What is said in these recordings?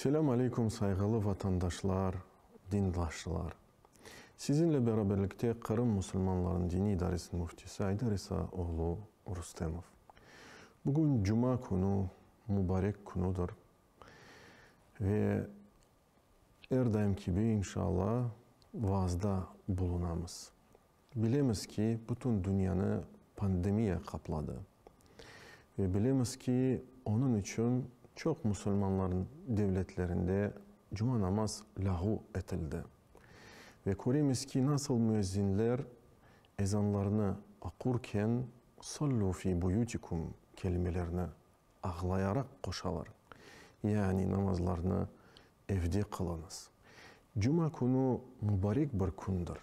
Selâm aleykum, sayğılı vatandaşlar, dindaşlar! Sizinle beraberlikte Qırım musulmanlarınıñ diniy idaresiniñ müftisi Aydar İsa oğlu Rustemov. Bugün cuma künü, mubarek künüdir ve Er daim kibi, inşaalla, vaazda bulunamız. Bilemiz ki, bütün dünyanı pandemiya qapladı. Ve bilemiz ki, onıñ içün çoq musulmanlar devletlerinde cuma namaz lâğu etildi. Ve köremiz ki, nasıl müezzinler ezanlarnı oqurken, Sallu fi buyutikum kelimelerini ağlayaraq qoşalar, Yani namazlarnı evde qılıñız. Cuma künü mubarek bir kündir.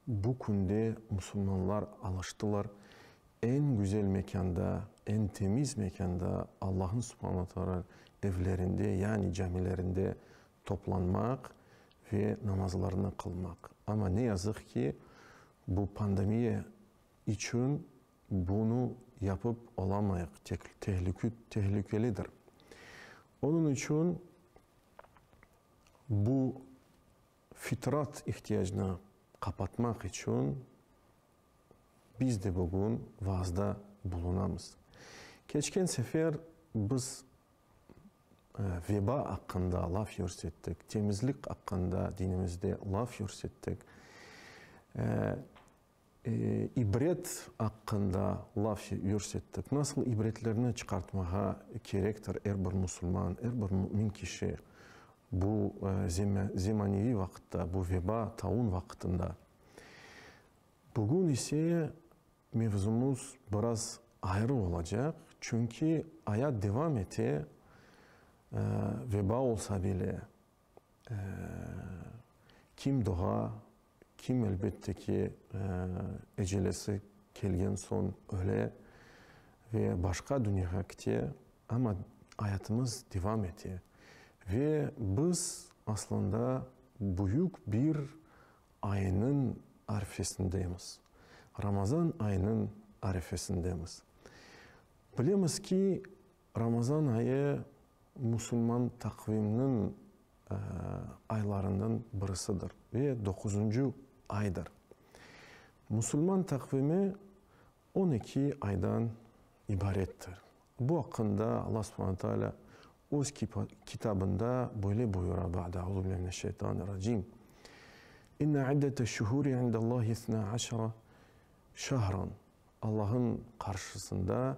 Bu künde musulmanlar alıştılar, eñ güzel mekânda, eñ temiz mekânda, Allahın subhana taala evlerinde, yani camilerinde toplanmaq ve namazlarnı qılmaq. Amma ne yazıq ki, bu pandemiya içün Bunı yapıp olamayıq, tehlikelidir. Onıñ içün bu fitrat ihtiyacnı qapatmaq içün biz de bugün vaazda bulunamız. Keçken sefer biz veba aqqında laf yürsettik, temizlik aqqında dinimizde laf yürsettik. İbret aqqında laf yürsettik. Nasıl ibretlerni çıqartmağa kerektir er bir musulman, er bir mümin kişi bu zemaneviy vaqıtta, bu veba, taun vaqıtında? Bugün ise mevzumız biraz ayrı olacaq, çünki ayat devam ete, veba olsa bile. Kim dığa, kim elbette ki, ecelesi kelgen soñ öle ve başqa dünyağa kite, amma ayatımız devam ete. Ve biz aslında büyük bir aynıñ arifesindemiz, Ramazan aynıñ arifesindemiz. Bilemiz ki, Ramazan ayı musulman taqvimniñ aylarından birisidir ve doquzıncı aydır. Musulman taqvimi on eki aydan ibarettir. Bu aqqında Alla subhana taalâ öz kitabında böyle buyura, Ba'de euzu billahi mineşşeytanirracim, İnne iddete şuhuri indallahi isnâ aşra şahran, Allah'ın qarşısında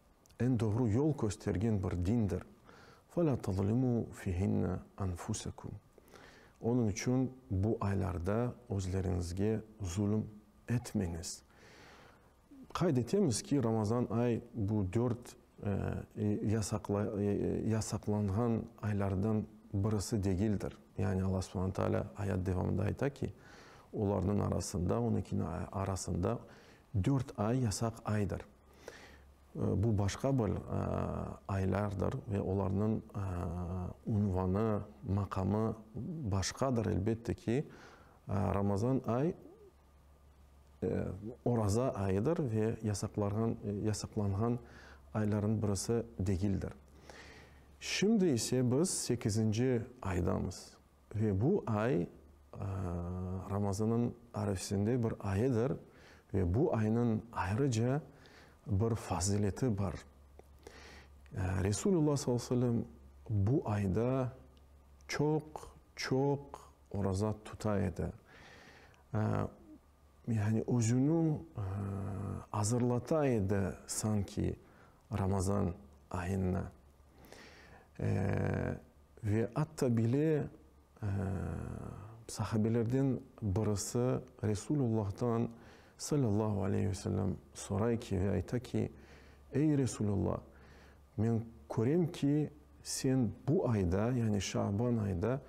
Eñ doğru yol köstergen bir dindir. Fe la tazlimu fihinne anfusekum. Onıñ içün bu aylarda özleriñizge zulüm etmeñiz. Qayd etemiz ki, Ramazan ay bu dört yasaqlanğan aylardan birisi degildir. Yani Alla subhane taala ayat devamında ayta ki, olarnıñ arasında, onıñkiniñ arasında dört ay yasaq aydır. Bu başqa bir aylardır ve olarnıñ unvanı, maqamı başqadır, elbette ki. Ramazan ay, oraza ayıdır ve yasaqlanğan aylarnıñ birisi degildir. Şimdi ise biz sekizinci aydamız. Ve bu ay Ramazanıñ arefesinde bir ayıdır ve bu aynıñ ayrıca bir fazileti bar. Resulullah sallallahu aleyhi ve sellem bu ayda çoq-çoq oraza tuta edi. Yani özüni azırlata edi sanki. Ramazan ayına ve atta bile sahabelerden birisi Resulullah'tan sallallahu aleyh ve sellem soray ki ve ayta ki, Ey Resulullah, men körem ki, sen bu ayda, yani Şaban ayda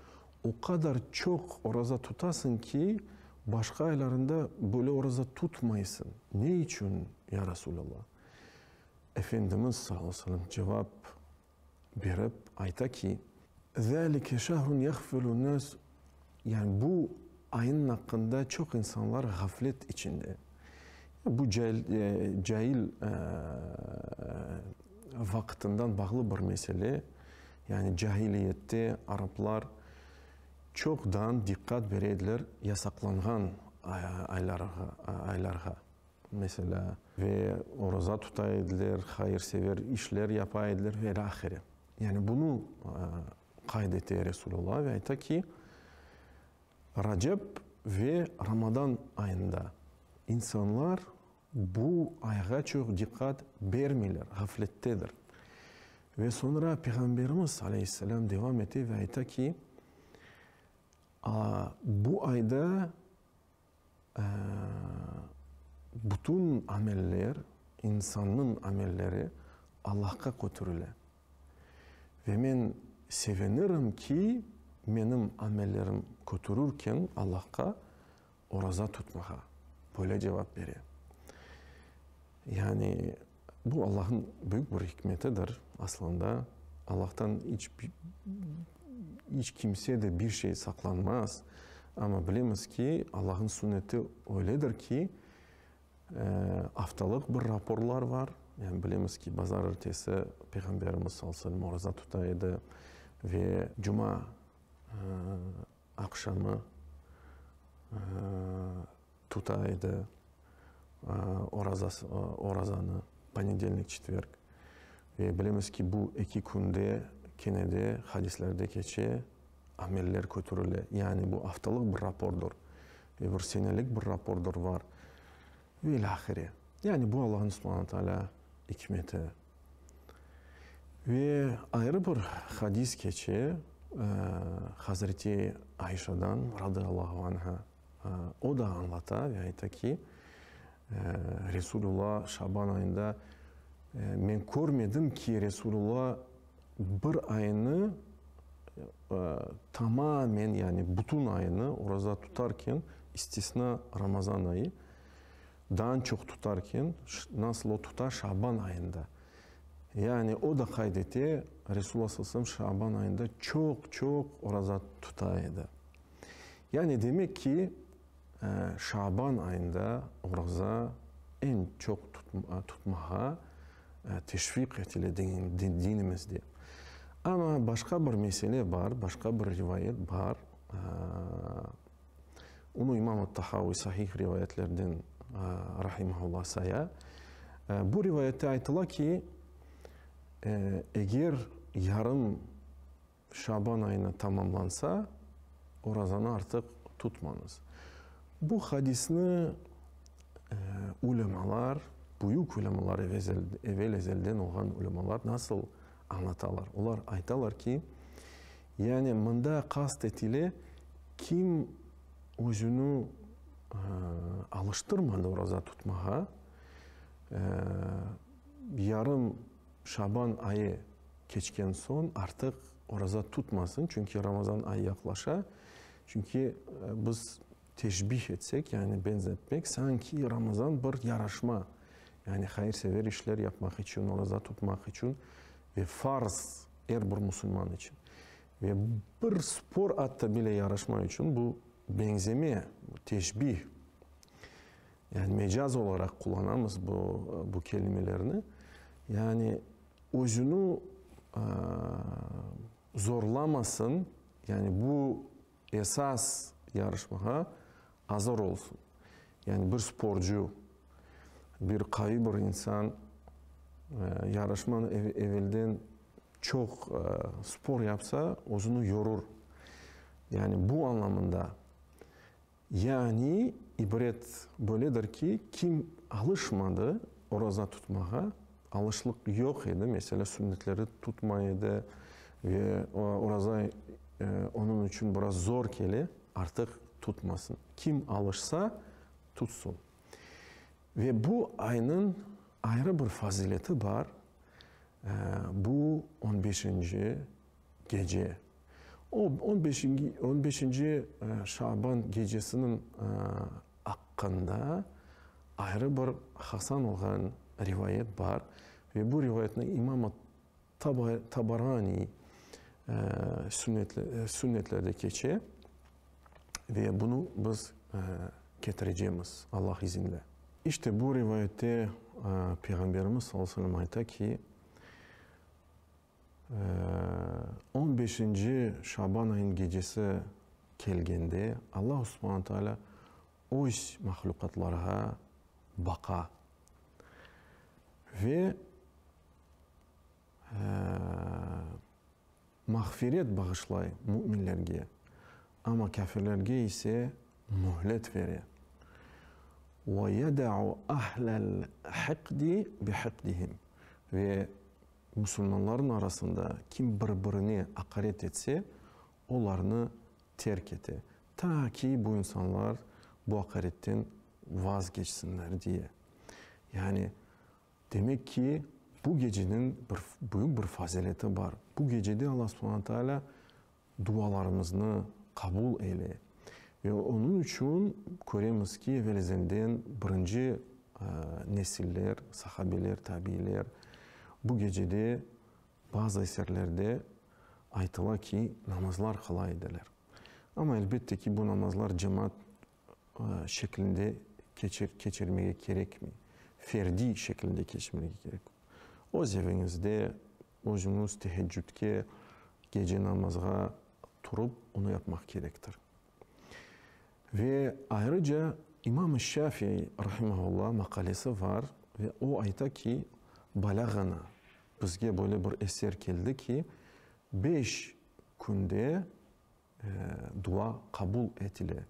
o qadar çoq oraza tutasıñ ki, başqa aylarında böyle oraza tutmaysıñ. Ne içün, ya Resulullah? Efendimiz sağ olsunım cevap berip ayta ki, Zâlike şehrun yağfilun nâs, yani bu aynın aqqında çoq insanlar ğaflet içinde. Bu cail vaqıtından bağlı bir mesele, yani cahiliyette araplar çoqdan diqqat bere ediler yasaqlanğan aylarğa. meselâ, ve oraza tuta ediler, hayırsever işler yapa ediler ve ilâ ahire. Yani bunı qayd ete Resulullah ve ayta ki, Racep ve Ramadan ayında insanlar bu ayğa çoq diqqat bermeyler, ğaflettedir. Ve soñra Peyğamberimiz aleyhisselâm devam ete ve ayta ki, Bu ayda Bütün ameller, insannıñ amelleri Allahqa kötürile. Ve men sevinirim ki, menim amellerim kötürürken Allahqa oraza tutmağa, böyle cevap bere. Yani. Bu Allahnıñ büyük bir ikmetidir. Aslında, Allahtan iç iç kimse de bir şey saqlanmaz. Amma bilemiz ki, Allahnıñ sünneti öyledir ki, aftalıq bir raporlar bar. Yani bilemiz ki, bazar ertesi Peyğamberimiz sallallahu aleyhi ve sellem oraza tuta edi ve cuma aqşamı Tuta edi orazanı, ponedelnik, çetverg. Ve bilemiz ki, bu eki künde kene de hadisler de keçe, ameller kötürile. Yani bu aftalıq bir rapordur, ve bir senelik bir rapordur var. Ve ilâ ahire. Yani bu Allahnıñ subhana ve taalâ ikmeti. Ve ayrı bir hadis keçe Hazreti Ayşadan, radiallahu anha. O da añlata ve ayta ki, Resulülla şaban ayında men körmedim ki, Resulülla bir aynı tamamen, yani bütün aynı oraza tutarken, istisna Ramazan ayı, dan çoq tutarken, nasıl o tuta şaban ayında. Yani o da qayd ete, Resulülla sallallahu aleyhi ve sellem şaban ayında çoq-çoq oraza tuta edi. Yani demek ki, şaban ayında oruza eñ çoq tutmağa teşviq etile dinimizde. Amma başqa bir mesele bar, başqa bir rivayet bar, onı İmam Tahaviy sahih rivayetlerden rahimehullah saya. Bu rivayette aytıla ki, eger yarım Şaban ayına tamamlansa, orazanı artıq tutmañız. Bu hadisni ulemalar, büyük ulemalar, evel ezelden olğan ulemalar nasıl añlatalar? Olar aytalar ki, yani mında qast etile, kim özüni alıştırmadı oraza tutmağa, yarım Şaban ayı keçken soñ artıq oraza tutmasın, çünki Ramazan ayı yaqlaşa. Çünki biz teşbih etsek, yani benzetmek, sanki Ramazan bir yaraşma, yani hayır-sever işler yapmaq içün, oraza tutmaq içün ve farz er bir musulman içün. Ve bir spor atta bile yaraşma içün bu beñzeme, teşbih. Yani mecaz olaraq qullanamız bu, bu kelimelerni. Yani özüni zorlamasın, yani bu esas yarışmağa azır olsun. Yani bir sporcu, bir qavi bir insan yarışmanı evelden çoq spor yapsa, özüni yorur. Yani bu anlamında. Yani, ibret böyledir ki, kim alışmadı oraza tutmağa, alışlıq yoq edi, mesele sünnetleri tutmay edi ve oraza onıñ içün biraz zor kele, artıq tutmasın. Kim alışsa, tutsın. Ve bu aynıñ ayrı bir fazileti bar, bu on beşinci Gece. O, on beşingi, on beşinci şaban gecesiniñ aqqında ayrı bir hasan olğan rivayet bar ve bu rivayetni İmam at-Taba, Tabaraniy sünnetle, sünnetlerde keçe ve bunı biz ketirecemiz Allah izinle. İşte bu rivayette Peyğamberimiz sallallahu aleyhi ve sellem ayta ki, On beşinci Şaban ayın gecesi kelgende, Alla Subhana Taalâ Öz mahlüqatlarğa baqa ve mağfiret bağışlay müminlerge, amma kâfirlerge ise mühlet bere. Ve yeda'u ahlel hiqdi bi hiqdihim Ve Musulmanlarnıñ arasında kim bir-birine aqaret etse, olarnı terk ete, ta ki bu insanlar bu aqaretten vazgeçsinler diye. Yani, demek ki, bu geceniñ büyük bir fazileti bar. Bu gecede Alla subhana taalâ Dualarımıznı qabul eyle. Ve onıñ içün köremiz ki, evelizenden birinci nesiller, sahabeler, tabiiler, bu gecede bazı eserlerde aytıla ki, namazlar qıla ediler. Amma, elbette ki, bu namazlar cemaat şeklinde keçirmege kerekmey, ferdiy şeklinde keçirmege kerek. Öz eviñizde, Özüñiz teheccüdke, gece namazğa, turıp onı yapmaq kerektir. Ve ayrıca İmam-ı Şafiy rahimahullah maqalesi var ve o ayta ki, balâğana, bizge böyle bir eser keldi ki, beş künde Dua qabul etile.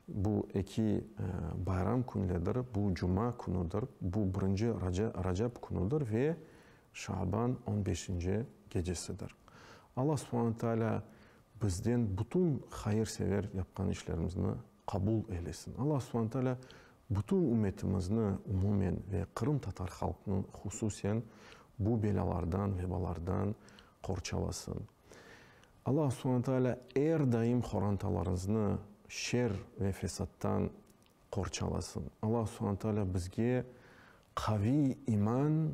Bu eki bayram künledir, bu cuma künüdir, bu birinci Racab künüdir ve Şaban on beşinci gecesidir. Alla subhane taalâ bizden bütün hayır-sever yapqan işlerimizni qabul eylesin. Alla subhane taalâ bütün ümmetimizni umumen ve qırımtatar halqını hususen bu belâlardan, vebalardan qorçalasın. Alla subhane taalâ er daim qorantalarıñznı şer ve fesattan qorçalasın. Alla subhane taalâ bizge qaviy iman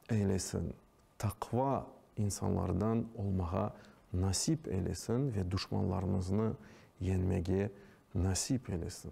eylesin, taqva insanlardan olmağa nasip eylesin ve duşmanlarımıznı yeñmege nasip eylesin.